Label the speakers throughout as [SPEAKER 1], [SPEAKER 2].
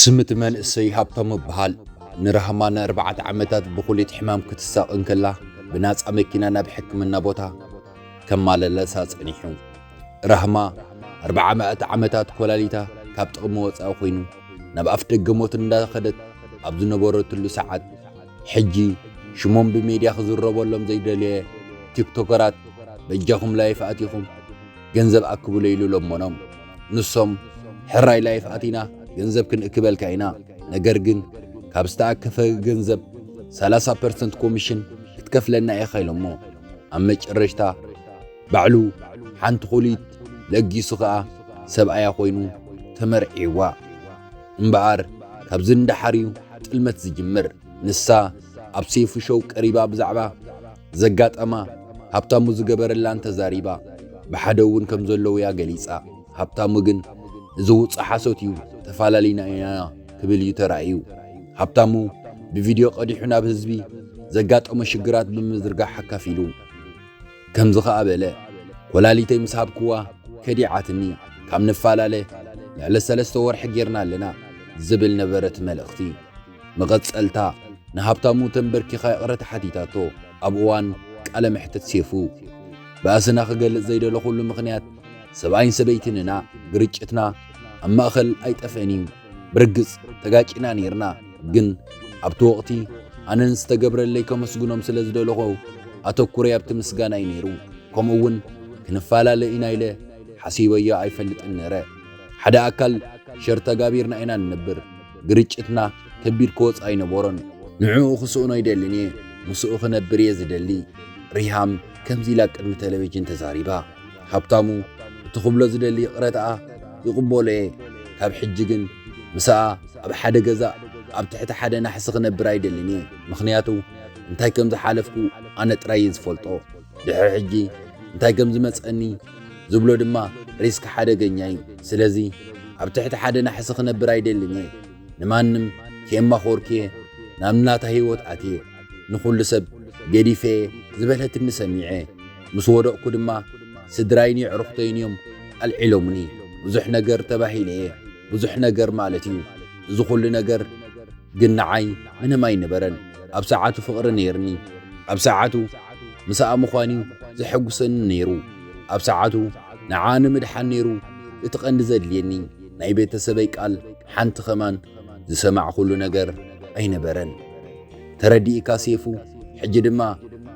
[SPEAKER 1] ስም'ቲ መንእሰይ ሃብታሙ እብሃል። ንራህማ ንኣርባዕተ ዓመታት ብኩሊት ሕማም ክትሳቐ እንከላ ብናጻ መኪና ናብ ሕክምና ቦታ ከማለለሳ ጸኒሑ። ራህማ ኣርባዓመኣቲ ዓመታት ኮላሊታ ካብ ጥቕሚ ወጻኢ ኮይኑ ናብ ኣፍደገ ሞት እንዳኸደት ኣብ ዝነበረትሉ ሰዓት ሕጂ ሽሞም ብሜድያ ክዝረበሎም ዘይደለየ ቲክቶከራት በጃኹም ላይፍ ኣቲኹም ገንዘብ ኣክቡለይ ኢሉ ለመኖም። ንሶም ሕራይ ላይፍ ኣቲና ገንዘብ ክንእክበልካ ኢና፣ ነገር ግን ካብ ዝተኣከፈ ገንዘብ ሰላሳ ፐርሰንት ኮሚሽን ክትከፍለና ኢኻ ኢሎሞ። ኣብ መጨረሽታ ባዕሉ ሓንቲ ኩሊት ለጊሱ ከኣ ሰብኣያ ኮይኑ ተመርዒዋ። እምበኣር ካብዚ ንደሓር እዩ ጥልመት ዝጅምር። ንሳ ኣብ ሴፉ ሸው ቀሪባ ብዛዕባ ዘጋጠማ ሃብታሙ ዝገበረላን ተዛሪባ። ብሓደ እውን ከም ዘለዉ'ያ ገሊጻ። ሃብታሙ ግን እዚ ውጹእ ሓሶት እዩ፣ ተፋላሊና ኢና ክብል እዩ ተራእዩ። ሃብታሙ ብቪድዮ ቀዲሑ ናብ ህዝቢ ዘጋጠሞ ሽግራት ብምዝርጋሕ ኣካፊሉ። ከምዚ ከኣ በለ፣ ኮላሊተይ ምስ ሃብክዋ ከዲዓትኒ፣ ካብ ንፋላለ ልዕሊ ሰለስተ ወርሒ ጌርና ኣለና ዝብል ነበረ እቲ መልእኽቲ። መቐጸልታ፣ ንሃብታሙ ተምበርኪኻ ይቕረታ ሓቲታቶ። ኣብ እዋን ቃለ መሕትት ሴፉ፣ ባእስና ክገልጽ ዘይደለኹሉ ምኽንያት፣ ሰብኣይን ሰበይትን ኢና፣ ግርጭትና ኣብ ማእከል ኣይጠፍእን እዩ፣ ብርግጽ ተጋጪና ኔርና፣ ግን ኣብቲ ወቕቲ ኣነ ንዝተገብረለይ ከመስግኖም ስለ ዝደለኹ ኣተኩረይ ኣብቲ ምስጋና እዩ ነይሩ፣ ከምኡ እውን ክንፈላለ ኢና ኢለ ሓሲበዮ ኣይፈልጥን ነረ። ሓደ ኣካል ሸር ተጋቢርና ኢና ንነብር። ግርጭትና ከቢድ ክወጽኦ ኣይነበሮን። ንዕኡ ክስእኖ ኣይደልን እየ፣ ምስኡ ክነብር እየ ዝደሊ። ሪሃም ከምዚ ኢላ ቅድሚ ተለቪጅን ተዛሪባ። ሃብታሙ እቲ ክብሎ ዝደሊ ይቕረታኣ ይቕበሎ እየ፣ ካብ ሕጂ ግን ምሳኣ ኣብ ሓደ ገዛ ኣብ ትሕቲ ሓደ ናሕሲ ክነብር ኣይደልን እየ፣ ምኽንያቱ እንታይ ከም ዝሓለፍኩ ኣነ ጥራይ እየ ዝፈልጦ፣ ድሕሪ ሕጂ እንታይ ከም ዝመጸኒ ዝብሎ ድማ ሪስክ ሓደገኛ እዩ ስለዚ ኣብ ትሕቲ ሓደ ናሕሲ ክነብር ኣይደልን እየ ንማንም ከየማኾርክየ ናብ ናታ ህይወት ኣትየ ንኹሉ ሰብ ገዲፈየ ዝበለትኒ ሰሚዐ ምስ ወደቕኩ ድማ ስድራይን የዕሩኽተይን እዮም ኣልዒሎምኒ ብዙሕ ነገር ተባሂለ እየ ብዙሕ ነገር ማለት እዩ እዚ ኹሉ ነገር ግን ንዓይ ምንም ኣይነበረን። ኣብ ሰዓቱ ፍቕሪ ነይርኒ። ኣብ ሰዓቱ ምሳኣ ምዃን'ዩ ዘሐጉሰኒ ነይሩ። ኣብ ሰዓቱ ንዓኣ ንምድሓን ነይሩ እቲ ቀንዲ ዘድልየኒ። ናይ ቤተሰበይ ቃል ሓንቲ ከማን ዝሰማዕኹሉ ነገር ኣይነበረን። ተረዲእካ ሴፉ? ሕጂ ድማ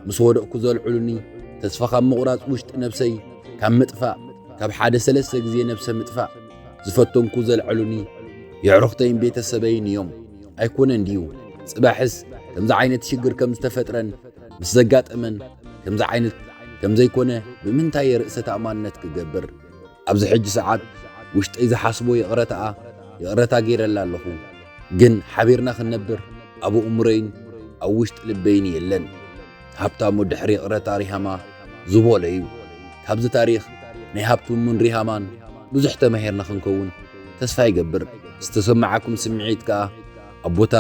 [SPEAKER 1] ምስ ወደቕኩ ዘልዕሉኒ ተስፋ ካብ ምቑራጽ ውሽጢ ነብሰይ ካብ ምጥፋእ ካብ ሓደ ሰለስተ ግዜ ነብሰ ምጥፋእ ዝፈቶምኩ ዘልዐሉኒ የዕሩኽተይን ቤተሰበይን እዮም ኣይኮነን ድዩ ጽባሕስ ከምዚ ዓይነት ሽግር ከም ዝተፈጥረን ምስ ዘጋጠመን ከምዚ ዓይነት ከም ዘይኮነ ብምንታይ የርእሰ ተኣማንነት ክገብር ኣብዚ ሕጂ ሰዓት ውሽጠይ ዝሓስቦ ይቕረታኣ ይቕረታ ገይረላ ኣለኹ ግን ሓቢርና ክንነብር ኣብ እምሮይን ኣብ ውሽጢ ልበይን የለን ሃብታሙ ድሕሪ ይቕረታ ሪሃማ ዝበሎ እዩ። ካብዚ ታሪኽ ናይ ሃብትሙን ሪሃማን ብዙሕ ተማሂርና ክንከውን ተስፋ ይገብር። ዝተሰማዓኩም ስምዒት ከኣ ኣብ ቦታ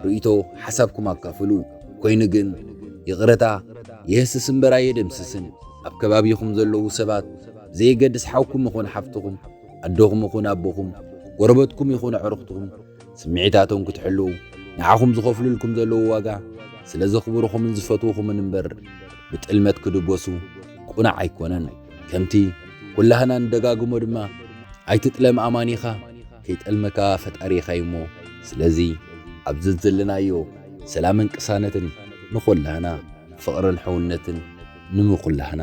[SPEAKER 1] ርእይቶ ሓሳብኩም ኣካፍሉ። ኮይኑ ግን ይቕረታ የህስስ እምበር ኣየደምስስን። ኣብ ከባቢኹም ዘለዉ ሰባት ብዘየገድስ ሓውኩም ይኹን ሓፍትኹም፣ ኣደኹም ይኹን ኣቦኹም፣ ጎረበትኩም ይኹን ኣዕሩኽትኹም ስምዒታቶም ክትሕልዉ ንዓኹም ዝኸፍሉልኩም ዘለዉ ዋጋ ስለ ዘኽብሩኹምን ዝፈትዉኹምን እምበር ብጥልመት ክድጎሱ ቁናዕ ኣይኮነን ከምቲ ኩላህና ንደጋግሞ ድማ ኣይትጥለም ኣማኒኻ ከይጠልመካ ፈጣሪኻ እዩ እሞ ስለዚ ኣብ ዘዘለናዮ ሰላምን ቅሳነትን ንኹላህና ፍቕርን ሕውነትን ንምኹላህና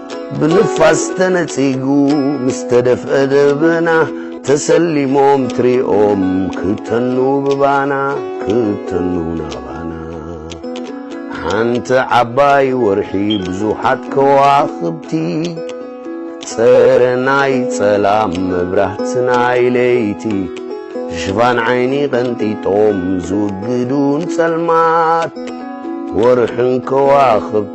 [SPEAKER 2] ብንፋስ ተነጺጉ ምስ ተደፍአ ደበና ተሰሊሞም ትሪኦም ክተኑ ብባና ክተኑ ናባና ሓንቲ ዓባይ ወርሒ ብዙሓት ከዋኽብቲ ጸረ ናይ ጸላም መብራህቲ ናይ ለይቲ ሽፋን ዓይኒ ቀንጢጦም ዝውግዱን ጸልማት ወርሕን ከዋኽብቲ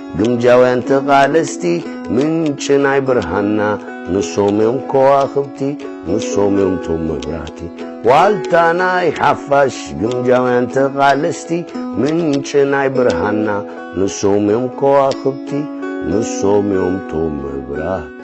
[SPEAKER 2] ግምጃውያን ተቓለስቲ ምንጪ ናይ ብርሃንና ንሶም እዮም ከዋኽብቲ ንሶም እዮም ቶም መብራህቲ ዋልታ ናይ ሓፋሽ ግምጃውያን ተቓለስቲ ምንጪ ናይ ብርሃንና ንሶም እዮም ከዋኽብቲ ንሶም እዮም ቶም መብራህቲ